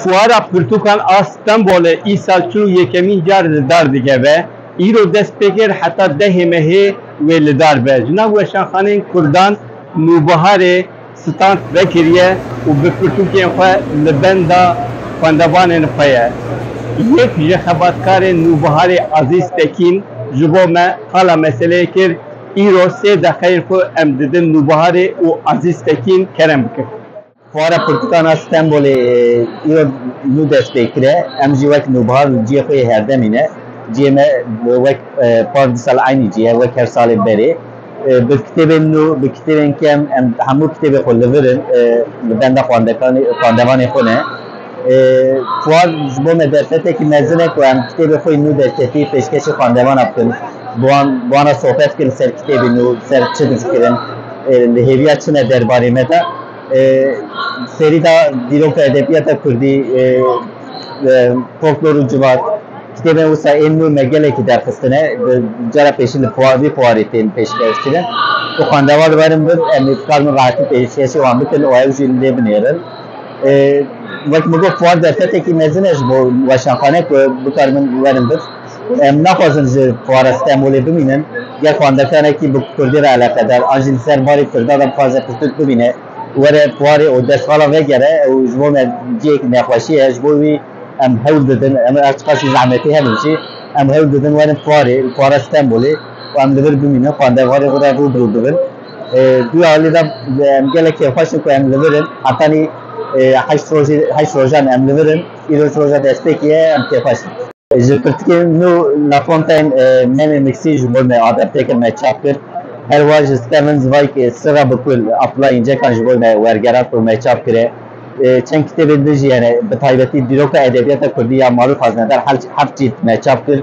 Fuara Pirtûkan a Stenbolê îsal çil û yekemîn car li dar dikeve. Îro dest pê kir heta dehê mehê wê li dar be. Ji nav weşanxaneyên Kurdan nûbiharê stand vekiriye û bi pirtûkên xwe li benda xwendevanên xwe ye. Yek ji xebatkarên nûbiharê Azîz Tekîn ji bo me qala meseleyê kir, Îro sê deqeyên xwe em didin Nûbaharê û Azîz Tekîn kerem bikin. Fuara Pirtûkana Stenbolê îro nû dest pê kir e. Em jî wek Nûbahar li ciyê xwe yê herdemî ne. Ciyê me wek par di sal eynî cî ye, wek her salê berê. Bi kitêbên nû, bi kitêbên kem em hemû kitêbê xwe li vir in, li benda xwandevanê xwe ne. Fuar ji bo me derfetekî mezin e ku em kitêbê xwe yê nû derketî pêşkêşî xwendevan a bikin. Bi wan bi wan re sohbet bikin li ser kitêbê nû, li ser çi difikirin, li hêviya çi ne derbarê me de. Serî da dîroka edebiyata Kurdî, folklor û civat. Kitêbên wisa ên nû me gelekî derxistine. Bi cara pêşî li fuar vî fuarê tên pêşkêş kirin. Ku xwendevan li ber in bin em ê dikarin rehetî pêşkêşî wan bikin û ew jî lê binêrin. Wek min got Fuad derfetekî mezin e ji bo weşanxane ku bikaribin werin vir. Em naxwazin ji Fuara Stenbolê bimînin. Ger xwendekanekî bi kurdî re eleqedar an jî li ser barê kurdan re bixwaze pirtûk bibîne were fuarê û destvala vegere ew ji bo me cihêk nexweşî ye. Ji bo wî em hewl didin her çiqas jî zehmetê hebû jî em hewl didin werin fuarê Fuara Stenbolê û em li vir bimînin xwendevarê xwe re rû bi rû bibin. Duya holê de em gelekî xweş in ku em li vir in. Hetanî heşt rojî heşt rojan em li vir in. Îroj roja destpêkê ye em kêfxweş in. Ji pirtûkên nû La Fontaine Meme Miksî ji bo me adapte kir, me çap kir. Her wiha ji Stephen Zweig Sirra bi kul a pila încekan ji bo me wergerand û me çap kire. Çend kitêbên din jî hene, bi taybetî dîroka edebiyata kurdî ya Marûf Haznedar heft cîld me çap kir.